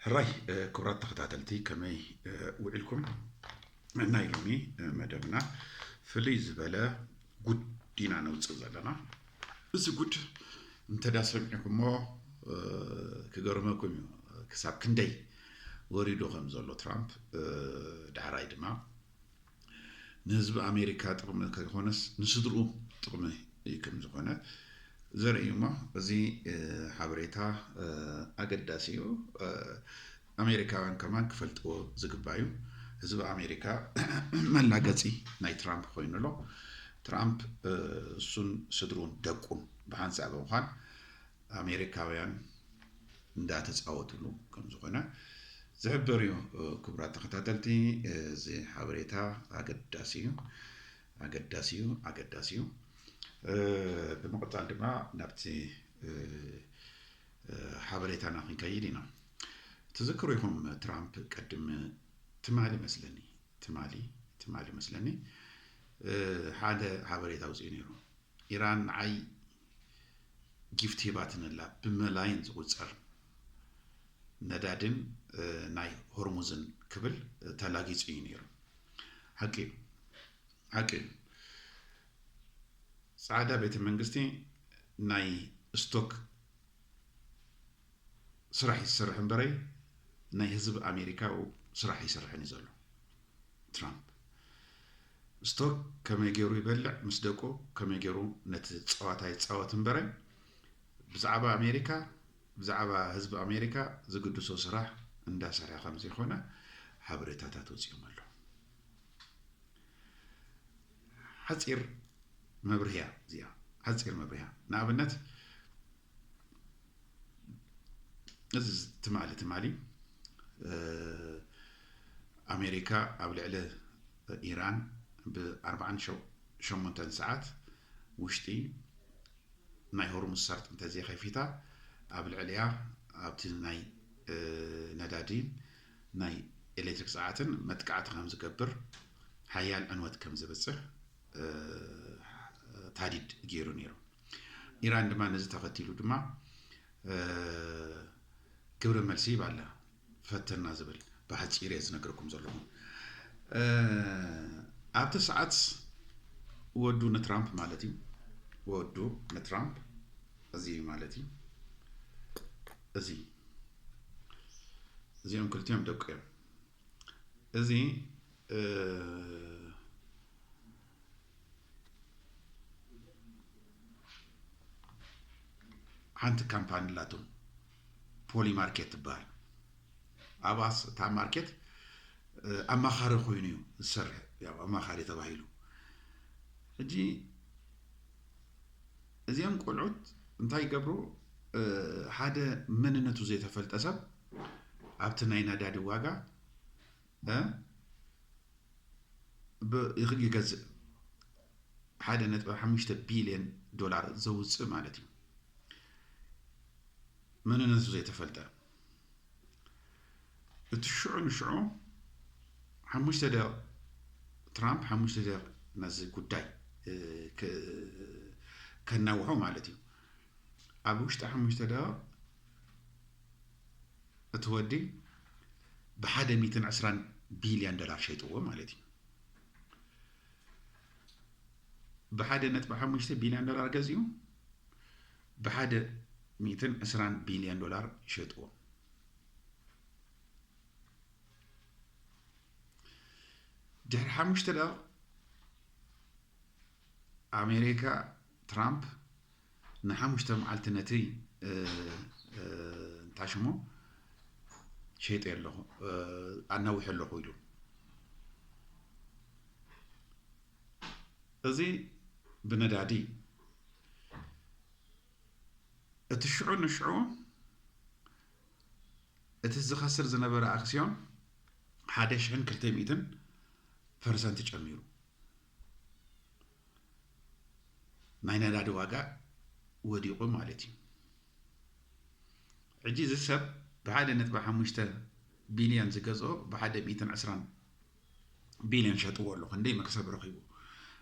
ሕራይ ክብራት ተኸታተልቲ ከመይ ውዒልኩም ናይ ሎሚ መደብና ፍልይ ዝበለ ጉድ ኢና ነውፅእ ዘለና እዚ ጉድ እንተዳ ሰሚዕኩሞ ክገርመኩም እዩ ክሳብ ክንደይ ወሪዱ ከም ዘሎ ትራምፕ ዳሕራይ ድማ ንህዝቢ ኣሜሪካ ጥቕሚ ከይኾነስ ንስድርኡ ጥቕሚ ከምዝኾነ ዘርኢ እዩ እሞ እዚ ሓበሬታ ኣገዳሲ እዩ። ኣሜሪካውያን ከማን ክፈልጥዎ ዝግባእ እዩ። ህዝቢ ኣሜሪካ መላገፂ ናይ ትራምፕ ኮይኑ ኣሎ። ትራምፕ እሱን ስድሩን ደቁን ብሓንሳእ ብምዃን ኣሜሪካውያን እንዳተጻወትሉ ከም ዝኾነ ዝሕብር እዩ። ክቡራት ተኸታተልቲ እዚ ሓበሬታ ኣገዳሲ እዩ ኣገዳሲ እዩ ኣገዳሲ እዩ። ብምቕጻል ድማ ናብቲ ሓበሬታና ክንከይድ ኢና። ትዝክሩ ኢኹም ትራምፕ ቅድም ትማሊ መስለኒ ትማሊ ትማሊ መስለኒ ሓደ ሓበሬታ ኣውፅኡ ነይሩ ኢራን ንዓይ ጊፍት ሂባትን ኣላ። ብመላይን ዝቑጸር ነዳዲን ናይ ሆርሙዝን ክብል ተላጊጹ እዩ ነይሩ። ሓቂ እዩ ሓቂ እዩ። ጻዕዳ ቤተ መንግስቲ ናይ ስቶክ ስራሕ እዩ ዝሰርሕ እምበረይ ናይ ህዝብ ኣሜሪካ ስራሕ ኣይሰርሕን እዩ ዘሎ ትራምፕ ስቶክ ከመይ ገይሩ ይበልዕ ምስ ደቁ ከመይ ገይሩ ነቲ ፀዋታ ይፃወት እምበረ ብዛዕባ ኣሜሪካ ብዛዕባ ህዝቢ ኣሜሪካ ዝግድሶ ስራሕ እንዳሰርሐ ከም ዘይኮነ ሓበሬታታት ወፂኦም ኣሎ ሓፂር መብርህያ እዚኣ ሓፂር መብርህያ ንኣብነት እዚ ትማሊ ትማሊ ኣሜሪካ ኣብ ልዕሊ ኢራን ብ48 ሰዓት ውሽጢ ናይ ሆርሙዝ ሰርጥ እንተዘይከፊታ ኣብ ልዕሊያ ኣብቲ ናይ ነዳዲ ናይ ኤሌክትሪክ ሰዓትን መጥቃዕቲ ከም ዝገብር ሓያል ዕንወት ከም ዝብፅሕ ታዲድ ገይሩ ነይሩ ኢራን ድማ ነዚ ተኸቲሉ ድማ ግብረ መልሲ ይብ ኣላ ፈተና ዝብል ብሓፂር እየ ዝነገርኩም ዘለኹም ኣብቲ ሰዓት ወዱ ንትራምፕ ማለት እዩ ወዱ ንትራምፕ እዚ ማለት እዩ እዚ እዚኦም ክልቲኦም ደቂ እዮም እዚ ሓንቲ ካምፓኒ ኣላቶም ፖሊ ማርኬት ትበሃል ኣብኣስ እታ ማርኬት ኣማኻሪ ኮይኑ እዩ ዝሰርሕ ያው ኣማኻሪ ተባሂሉ ሕጂ እዚኦም ቆልዑት እንታይ ይገብሩ ሓደ መንነቱ ዘይተፈልጠ ሰብ ኣብቲ ናይ ነዳዲ ዋጋ ብ ይገዝእ ሓደ ነጥቢ ሓሙሽተ ቢልየን ዶላር ዘውፅእ ማለት እዩ መንነቱ ዘይተፈልጠ እቲ ሽዑ ንሽዑ ሓሙሽተ ደቕ ትራምፕ ሓሙሽተ ደቕ ነዚ ጉዳይ ከናውሖ ማለት እዩ ኣብ ውሽጢ ሓሙሽተ ደቕ እቲ ወዲ ብሓደ ሚትን ዕስራን ቢልዮን ዶላር ሸይጥዎ ማለት እዩ። ብሓደ ነጥቢ ሓሙሽተ ቢልዮን ዶላር ገዚኡ ብሓደ ሚትን ዕስራን ቢልዮን ዶላር ሸጥዎ። ድሕሪ ሓሙሽተ ደቕ ኣሜሪካ ትራምፕ ንሓሙሽተ መዓልቲ ነቲ እንታይ ሽሙ ሸይጠ ኣለኹ ኣናዊሐ ኣለኹ ኢሉ እዚ ብነዳዲ እቲ ሽዑ ንሽዑ እቲ ዝኸስር ዝነበረ ኣክስዮን ሓደ ሽሕን ክልተ ሚእትን ፐርሰንት ጨሚሩ ናይ ነዳዲ ዋጋ ወዲቑ ማለት እዩ ሕጂ እዚ ሰብ ብሓደ ነጥቢ ሓሙሽተ ቢልዮን ዝገዝኦ ብሓደ ሚእትን ዕስራን ቢልዮን ሸጥዎ ኣሎ ክንደይ መክሰብ ረኺቡ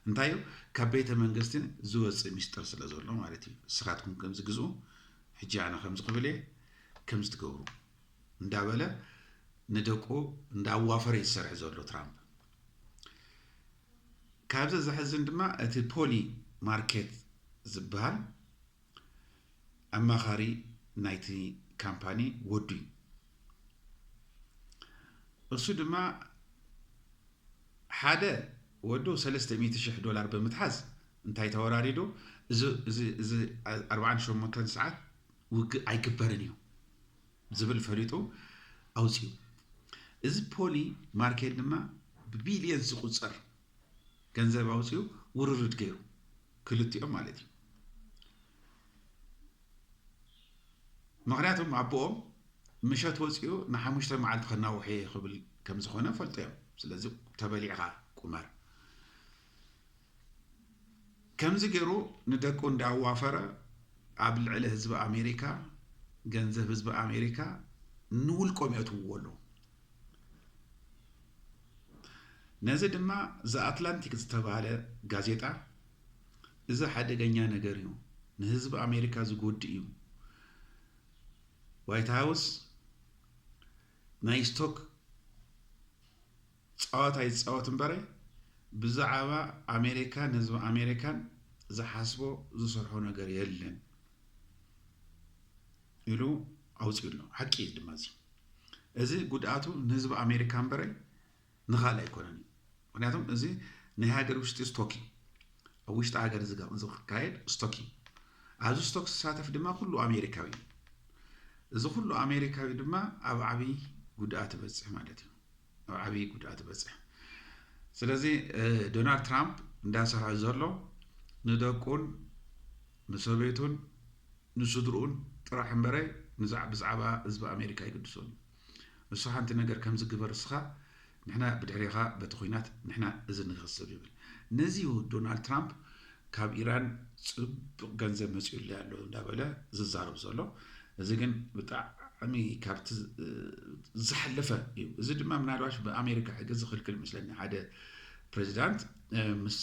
እንታይ እዩ ካብ ቤተ መንግስቲ ዝወፅእ ሚስጥር ስለ ዘሎ ማለት እዩ ንስኻትኩም ከምዚ ግዝኡ ሕጂ ኣነ ከምዚ ክብል እየ ከምዚ ትገብሩ እንዳበለ ንደቁ እንዳዋፈረ ይሰርሕ ዘሎ ትራምፕ ካብዚ ዘሕዝን ድማ እቲ ፖሊ ማርኬት ዝበሃል ኣማኻሪ ናይቲ ካምፓኒ ወዱ እዩ። እሱ ድማ ሓደ ወዱ ሰለስተ ሚእቲ ሽሕ ዶላር ብምትሓዝ እንታይ ተወራሪዱ እዚ ኣርባዓን ሸሞንተን ሰዓት ውግእ ኣይግበርን እዩ ዝብል ፈሊጡ ኣውጺኡ። እዚ ፖሊ ማርኬት ድማ ብቢልየንስ ዝቑጸር ገንዘብ ኣውጺኡ ውርርድ ገይሩ፣ ክልቲኦም ማለት እዩ። ምኽንያቱም ኣቦኦም ምሸት ወጺኡ ንሓሙሽተ መዓልቲ ከናውሕ'የ ክብል ከምዝኾነ ፈልጦ እዮም። ስለዚ ተበሊዕኻ ቁመር። ከምዚ ገሩ ንደቁ እንዳ ኣዋፈረ ኣብ ልዕሊ ህዝቢ ኣሜሪካ ገንዘብ ህዝቢ ኣሜሪካ ንውልቆም የእትውዎ ኣለዉ። ነዚ ድማ ዘ ኣትላንቲክ ዝተባህለ ጋዜጣ እዚ ሓደገኛ ነገር እዩ፣ ንህዝቢ ኣሜሪካ ዝጎድእ እዩ፣ ዋይት ሃውስ ናይ ስቶክ ጻወታ ይጻወት እምበረ ብዛዓባ ኣሜሪካን ህዝቢ ኣሜሪካን ዝሓስቦ ዝሰርሖ ነገር የለን ኢሉ ኣውጺኡ ኣሎ ሓቂ እዩ ድማ እዚ እዚ ጉድኣቱ ንህዝቢ ኣሜሪካ እምበረ ንኻልእ ኣይኮነን እዩ ምክንያቱም እዚ ናይ ሃገር ውሽጢ ስቶክ እዩ ኣብ ውሽጢ ሃገር ዝካየድ ስቶክ እዩ ኣብዚ ስቶክ ዝሳተፍ ድማ ኩሉ ኣሜሪካዊ እዩ እዚ ኩሉ ኣሜሪካዊ ድማ ኣብ ዓብይ ጉድኣት ይበፅሕ ማለት እዩ ናብ ዓብዪ ጉድኣት ዝበፅሕ ስለዚ ዶናልድ ትራምፕ እንዳሰርሐ ዘሎ ንደቁን ንሰበይቱን ንስድርኡን ጥራሕ እምበረ ብዛዕባ ህዝቢ ኣሜሪካ ይግድሶን እዩ ንሱ ሓንቲ ነገር ከምዚ ግበር እስኻ ንሕና ብድሕሬኻ በቲ ኩናት ንሕና እዚ ንኸስብ ይብል ነዚ ዶናልድ ትራምፕ ካብ ኢራን ጽብቅ ገንዘብ መጺኡለይ ኣሎ እንዳበለ ዝዛረብ ዘሎ እዚ ግን ብጣዕሚ ካብቲ ዝሓለፈ እዩ። እዚ ድማ ምናልባሽ ብኣሜሪካ ሕጊ ዝኽልክል ምስለኒ ሓደ ፕሬዚዳንት ምስ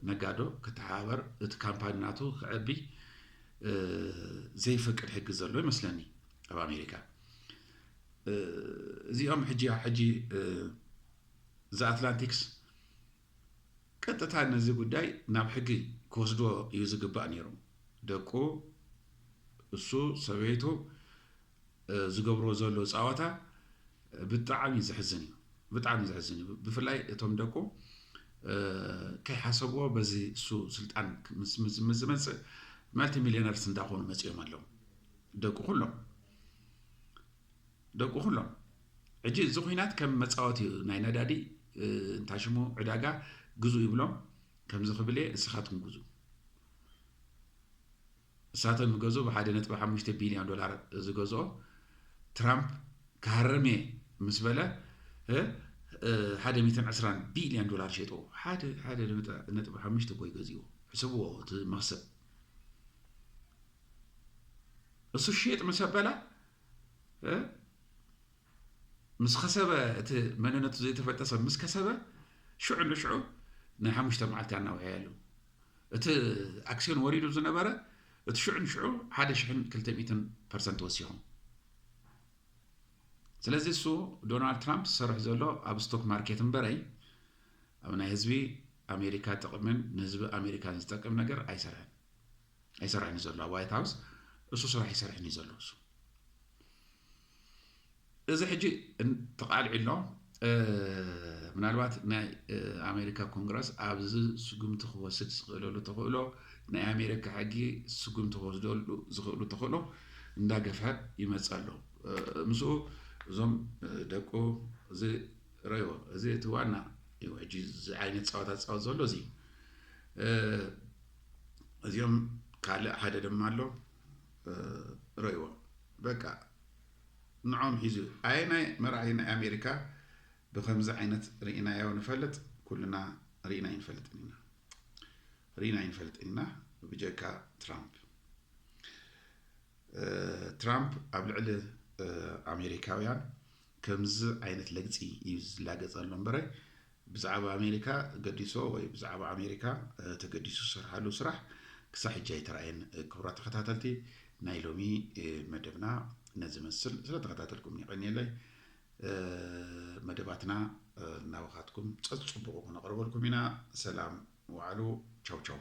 ነጋዶ ክተሓባበር እቲ ካምፓኒ ናቱ ክዕቢ ዘይፈቅድ ሕጊ ዘሎ ይመስለኒ ኣብ ኣሜሪካ እዚኦም ሕጂ ሕጂ ዘኣትላንቲክስ ቀጥታ ነዚ ጉዳይ ናብ ሕጊ ክወስድዎ እዩ ዝግባእ ነይሩ። ደቁ፣ እሱ፣ ሰበይቱ ዝገብርዎ ዘሎ ጻወታ ብጣዕሚ ዘሕዝን እዩ። ብጣዕሚ ዘሕዝን እዩ። ብፍላይ እቶም ደቁ ከይሓሰብዎ በዚ እሱ ስልጣን ምስ ዝመጽእ መልቲ ሚሊዮነርስ እንዳኾኑ መጺኦም ኣለዉ ደቁ ኩሎም። ደቁ ኩሎም ሕጂ እዚ ኩናት ከም መጻወቲ እዩ ናይ ነዳዲ እንታይ ሽሙ ዕዳጋ ግዙ ይብሎም ከምዚ ክብል እየ ንስኻትኩም ግዙ እሳቶም ይገዝኡ ብሓደ ነጥቢ ሓሙሽተ ቢልዮን ዶላር ዝገዝኦ ትራምፕ ክሃርም እየ ምስ በለ ሓደ ሚትን ዕስራን ቢልዮን ዶላር ሸጥዎ ሓደ ሓደ ነጥቢ ሓሙሽተ ኮይ ገዚዎ ሕስብዎ እቲ መክሰብ እሱ ሸጥ ምስ ኣበላ ምስ ከሰበ እቲ መንነቱ ዘይተፈልጠ ሰብ ምስ ከሰበ ሽዑ ንሽዑ ናይ ሓሙሽተ መዓልቲ ኣናውሐያ ኣለዉ እቲ ኣክሲዮን ወሪዱ ዝነበረ እቲ ሽዑ ንሽዑ ሓደ ሽሕን ክልተ ሚትን ፐርሰንት ወሲኹም ስለዚ እሱ ዶናልድ ትራምፕ ዝሰርሕ ዘሎ ኣብ ስቶክ ማርኬት እምበረይ ኣብ ናይ ህዝቢ ኣሜሪካ ጥቕምን ንህዝቢ ኣሜሪካን ዝጠቅም ነገር ኣይሰርሕን ኣይሰርሕን እዩ ዘሎ ኣብ ዋይት ሃውስ እሱ ስራሕ ይሰርሕን እዩ ዘሎ እሱ እዚ ሕጂ ተቃልዒ ኣሎ ምናልባት ናይ ኣሜሪካ ኮንግረስ ኣብዚ ስጉምቲ ክወስድ ዝኽእለሉ ተኽእሎ ናይ ኣሜሪካ ሕጊ ስጉምቲ ክወስደሉ ዝኽእሉ ተኽእሎ እንዳገፍሐ ይመፅ ኣሎ ምስኡ እዞም ደቁ እዚ ረዮ እዚ እቲ ዋና እዩ ሕጂ ዓይነት ፀዋታ ዝፃወት ዘሎ እዚ እዚኦም ካልእ ሓደ ድማ ኣሎ ረይዎ በቃ ንዖም ሒዙ ኣየናይ መራሒ ናይ ኣሜሪካ ብከምዚ ዓይነት ርኢናዮ ንፈልጥ ኩልና ርኢና ይንፈልጥን ኢና ርኢና ይንፈልጥን ኢና ብጀካ ትራምፕ ትራምፕ ኣብ ልዕሊ ኣሜሪካውያን ከምዚ ዓይነት ለግፂ እዩ ዝላገፀሎም በረ ብዛዕባ ኣሜሪካ ገዲሶ ወይ ብዛዕባ ኣሜሪካ ተገዲሱ ዝሰርሓሉ ስራሕ ክሳዕ ሕጂ ኣይተራእየን። ክቡራት ተኸታተልቲ ናይ ሎሚ መደብና ነዚ መስል ስለ ተኸታተልኩም የቐንየለይ። መደባትና ናባኻትኩም ጸጽቡቑ ክነቕርበልኩም ኢና። ሰላም ወዓሉ ቻው ቻው።